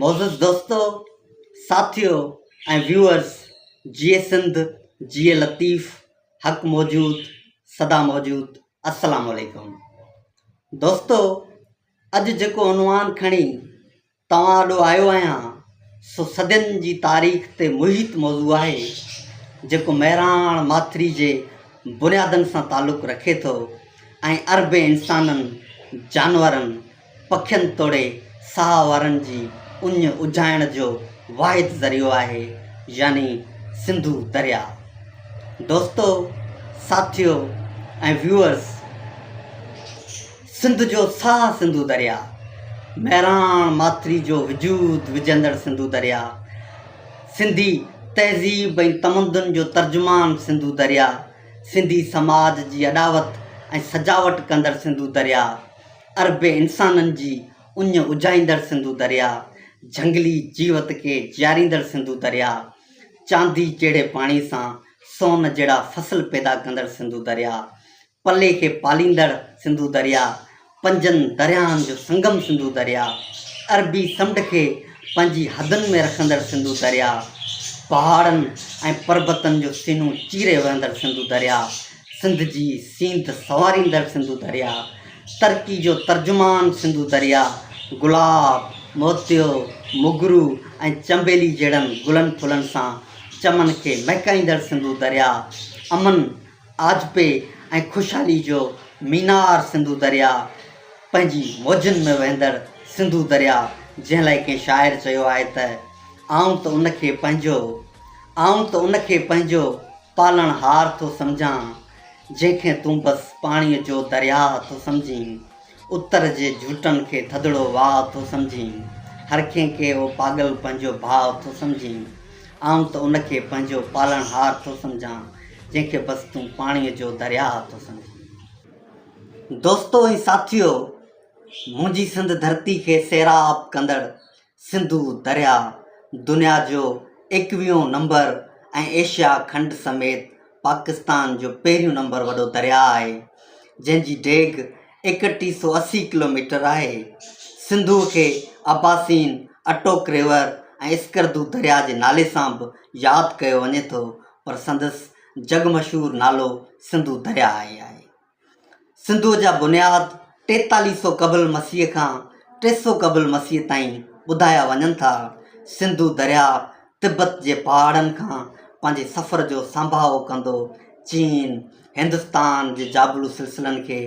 معزز دوستو، ساٿيو ۽ ويوئرز جيئي سنڌ جيئي لطيف حق موجود سدا موجود السلام عليڪم دوستو اڄ جيڪو عنوان کڻي توهان آڏو آيو آهيان سو صدين جي تاريخ تي محيط موضوع آهي جيڪو مهراڻ ماٿري جي بنيادن سان تعلق رکي ٿو ۽ اربين انسانن جانورن پکين توڙي ساهه وارن جي اڃ اجهائڻ جو واحد ذريعو آهي يعني سنڌو درياء. دوستو، ساٿيو ۽ ويوئرز سنڌ جو ساهه سنڌو درياء، مهراڻ ماٿري جو وجود وجهندڙ سنڌو درياء، سنڌي تهذيب ۽ تمدن جو ترجمان سنڌو درياء، سنڌي سماج جي اڏاوت ۽ سجاوٽ ڪندڙ سنڌو درياء، اربين انسانن جي اڃ اجهائيندڙ سنڌو درياء، جهنگلي جيوت کي جياريندڙ سنڌو درياء، چاندي جهڙي پاڻي سان سون جهڙا فصل پيدا ڪندڙ سنڌو درياء، پلي کي پاليندڙ سنڌو درياء، پنجن درياهن جو سنگم سنڌو درياء، عربي سمنڊ کي پنهنجي حدن ۾ رکندڙ سنڌو درياء، پهاڙن ۽ پربتن جو سينو چيري وهندڙ سنڌو درياء، سنڌ جي سينڌ سنواريندڙ سنڌو درياء، ترڪي جو ترجمان سنڌو درياء، گلاب، موتيو، موگرو ۽ چنبيلي جهڙن گلن ڦلن سان چمن کي مهڪائيندڙ سنڌو درياء، امن، آجپي ۽ خوشحالي جو مينار سنڌو درياء، پنهنجي موجن ۾ وهندڙ سنڌو درياء جنهن لاء ڪنهن شاعر چيو آهي ته، آئون ته ان کي پنهنجو، آئون ته ان کي پنهنجو پالڻهار ٿو سمجهان، جنهن کي تون بس پاڻيء جو درياهه ٿو سمجهين. اتر جي جهوٽن کي ٿڌڙو واهه ٿو سمجهين. هر ڪنهن کي اهو پاڳل پنهنجو ڀاء ٿو سمجهين. آئون ته ان کي پنهنجو پالڻهار ٿو سمجهان، جنهن کي بس تون پاڻيء جو درياهه ٿو سمجهين. دوستو ۽ ساٿيو! منهنجي سنڌ ڌرتي کي سيراب ڪندڙ سنڌو درياء دنيا جو ايڪويهون نمبر ۽ ايشيا کنڊ سميت پاڪستان جو پهريون نمبر وڏو درياء آهي، جنهن جي ڊيگهه ايڪٽيهه سؤ اسي ڪلوميٽر آهي. سنڌوء کي اباسين، اٽوڪ ريور ۽ اسڪردو درياء جي نالي سان به ياد ڪيو وڃي ٿو، پر سندس جڳ مشهور نالو سنڌو درياء ئي آهي. سنڌوء جا بنياد ٽيتاليهه سؤ قبل مسيح کان ٽي سؤ قبل مسيح تائين ٻڌايا وڃن ٿا. سنڌو درياء تبت جي پهاڙن کان پنهنجي سفر جو سانڀاهو ڪندو چين، هندستان جي جابلو سلسلن کي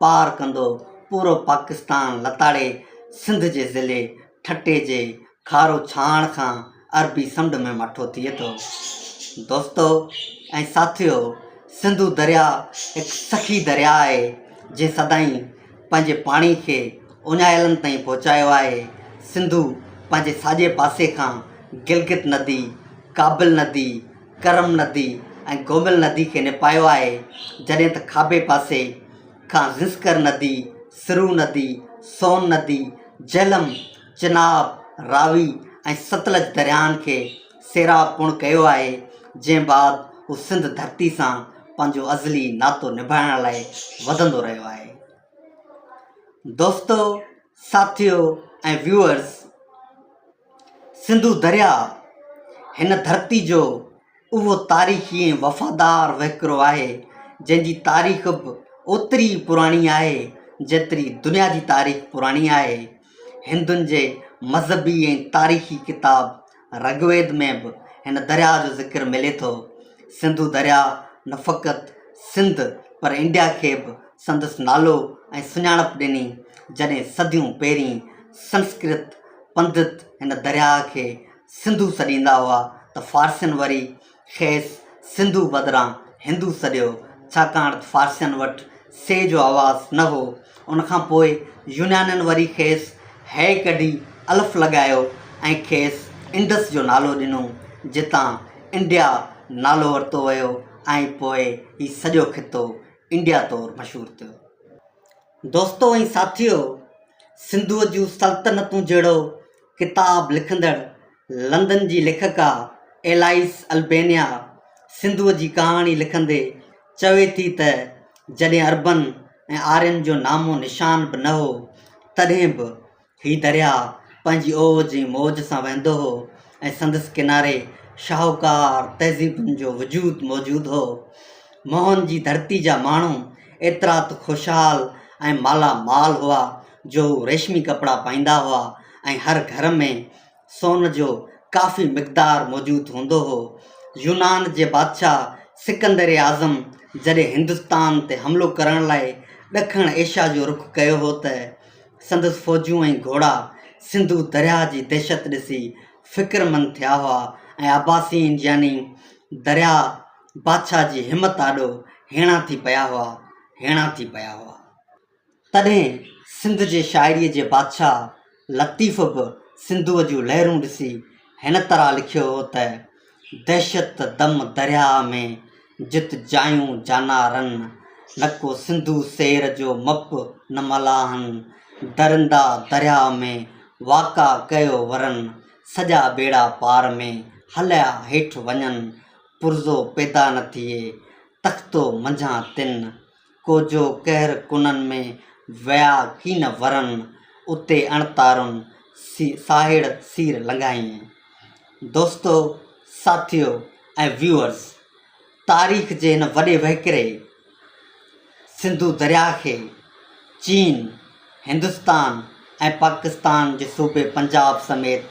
پار ڪندو پورو پاڪستان لتاڙي سنڌ جي ضلعي ٺٽي جي کارو ڇاڻ کان عربي سمنڊ ۾ مٺو ٿئي ٿو. دوستو ۽ ساٿيو سنڌو درياء هڪ سخي درياء آهي جنهن سدائين پنهنجي پاڻي کي اڃايلن تائين پهچايو آهي. سنڌو پنهنجي ساڄي پاسي کان گلگت ندي، ڪابل ندي، ڪرم ندي ۽ گومل ندي کي نپايو آهي جڏهن ته کاٻي پاسي کان گنسڪر ندي، سرو ندي، سون ندي، جهلم، چناب، راوي ۽ ستلج درياهن کي سيراب پڻ ڪيو آهي، جنهن بعد هو سنڌ ڌرتي سان پنهنجو ازلي ناتو نڀائڻ لاء وڌندو رهيو آهي. دوستو، ساٿيو ۽ ويوئرز، سنڌو درياهه هن ڌرتي جو اهو تاريخي ۽ وفادار وهڪرو آهي، جنهن جي تاريخ به اوتري ئي پراڻي آهي، جيتري دنيا جي تاريخ پراڻي آهي. هندن جي مذهبي ۽ تاريخي ڪتاب رگ ويد ۾ به هن درياهه جو ذڪر ملي ٿو. سنڌو درياهه نه فقط سنڌ پر انڊيا کي به سندس نالو ۽ سڃاڻپ ڏني جڏهن صديون پهرين سنسڪرت پنڊت هن درياهه کي سنڌو سڏيندا هئا ته فارسين وري کيس سنڌو بدران هندو سڏيو، ڇاڪاڻ ته فارسين وٽ سي جو آواز نه هو. ان کان پوء يونانين وري کيس هيء ڪڍي الف لڳايو ۽ کيس انڊس جو نالو ڏنو، جتان انڊيا نالو ورتو ويو ۽ پوء هي سڄو خطو انڊيا طور مشهور ٿيو. دوستو ۽ ساٿيو! سنڌوء جون سلطنتون جهڙو ڪتاب لکندڙ لندن جي ليکڪا ايلائيس البينيا سنڌوء جي ڪهاڻي لکندي چوي ٿي ته جڏهن عربن ۽ آرين جو نامو نشان به نه هو، تڏهن به هي درياهه پنهنجي اوج ۽ موج سان وهندو هو ۽ سندس ڪناري شاهوڪار تهذيبن جو وجود موجود هو. موهن جي ڌرتي جا ماڻهو ايترا ته خوشحال ۽ مالا مال هئا جو هو ريشمي ڪپڙا پائيندا هئا ۽ هر گهر ۾ سون جو ڪافي مقدار موجود هوندو هو. يونان جي بادشاهه سڪندر اعظم جڏهن هندستان تي حملو ڪرڻ لاء ڏکڻ ايشيا جو رخ ڪيو هو ته سندس فوجون ۽ گهوڙا سنڌو درياهه جي دهشت ڏسي فڪرمند ٿيا هئا ۽ عباسين يعني درياهه بادشاهه جي همت آڏو هيڻا ٿي پيا هئا هيڻا ٿي پيا هئا. تڏهن سنڌ جي شاعريء جي بادشاهه لطيف به سنڌوء جون لهرون ڏسي هن طرح لکيو هو ته، دهشت دم درياهه ۾، جت جايون جانا رن، نڪو سنڌو سير جو مپ نه ملاحن، درندا درياهه ۾، واڪا ڪيو ورن، سڄا ٻيڙا پار ۾، هليا هيٺ وڃن، پرزو پيدا نه ٿئي، تختو منجهان تن، ڪوجو قهر ڪنن ۾ ويا ڪين ورن، اتي اڻتارن ساهڙ سير لنگهائين. دوستو، ساٿيو ۽ ويوئرز، تاريخ جي هن وڏي وهڪري سنڌو درياهه کي چين، هندستان ۽ پاڪستان جي صوبي پنجاب سميت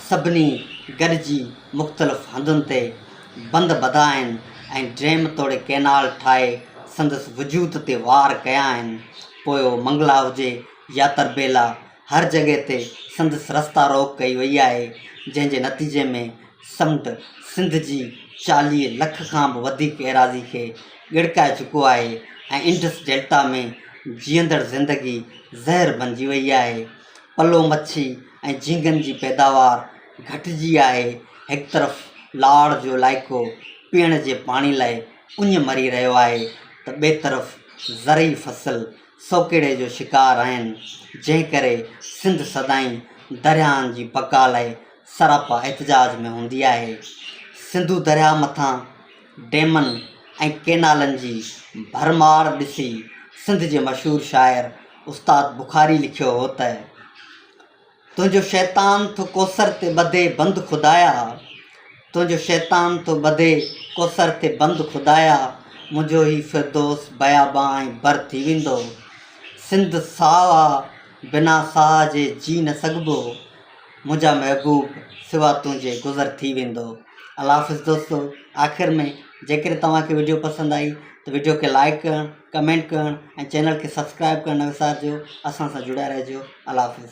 سڀني گڏجي مختلف هنڌن تي بند ٻڌا آهن ۽ ڊيم توڙي ڪئنال ٺاهي سندس وجود تي وار ڪيا آهن پوء اهو منگلا هجي يا تربيلا هر جڳهه تي سندس رستا روڪ ڪئي وئي آهي جنهن جي نتيجي ۾ سمت سنڌ جي چاليهه لک کان به وڌيڪ ايراضي کي ڳڙڪائي چڪو آهي ۽ انڊس ڊيلٽا ۾ جيئندڙ زندگي زهر بنجي وئي آهي. پلو مڇي ۽ جهينگن جي پيداوار گهٽجي آهي. هڪ طرف لاڙ جو علائقو پيئڻ جي پاڻي لاء اڃ مري رهيو آهي ته ٻئي طرف زرعي فصل سوڪهڙي جو شڪار آهن، جنهن ڪري سنڌ سدائين درياهن جي بقا لاء سراپا احتجاج ۾ هوندي آهي. سنڌو درياهه مٿان ڊيمن ۽ ڪينالن جي ڀرمار ڏسي سنڌ جي مشهور شاعر استاد بخاري لکيو هو ته. تنهنجو شيطان ٿو ڪوثر تي ٻڌي بند خدايا تنهنجو شيطان ٿو ٻڌي ڪوثر تي بند خدايا منهنجو هي فردوس بيابان ۽ بر ٿي ويندو سنڌ ساهه آ بنا ساهه جي جي نه سگهبو منهنجا محبوب سوا تنهنجي گذر ٿي ويندو الله حافظ دوستو آخر ۾ جيڪڏهن توهان کي وڊيو پسند آئي ته وڊيو کي لائڪ ڪرڻ ڪمينٽ ڪرڻ ۽ چينل کي سبسڪرائب ڪرڻ نه وسارجو اسان سان جڙيا رهجو الله حافظ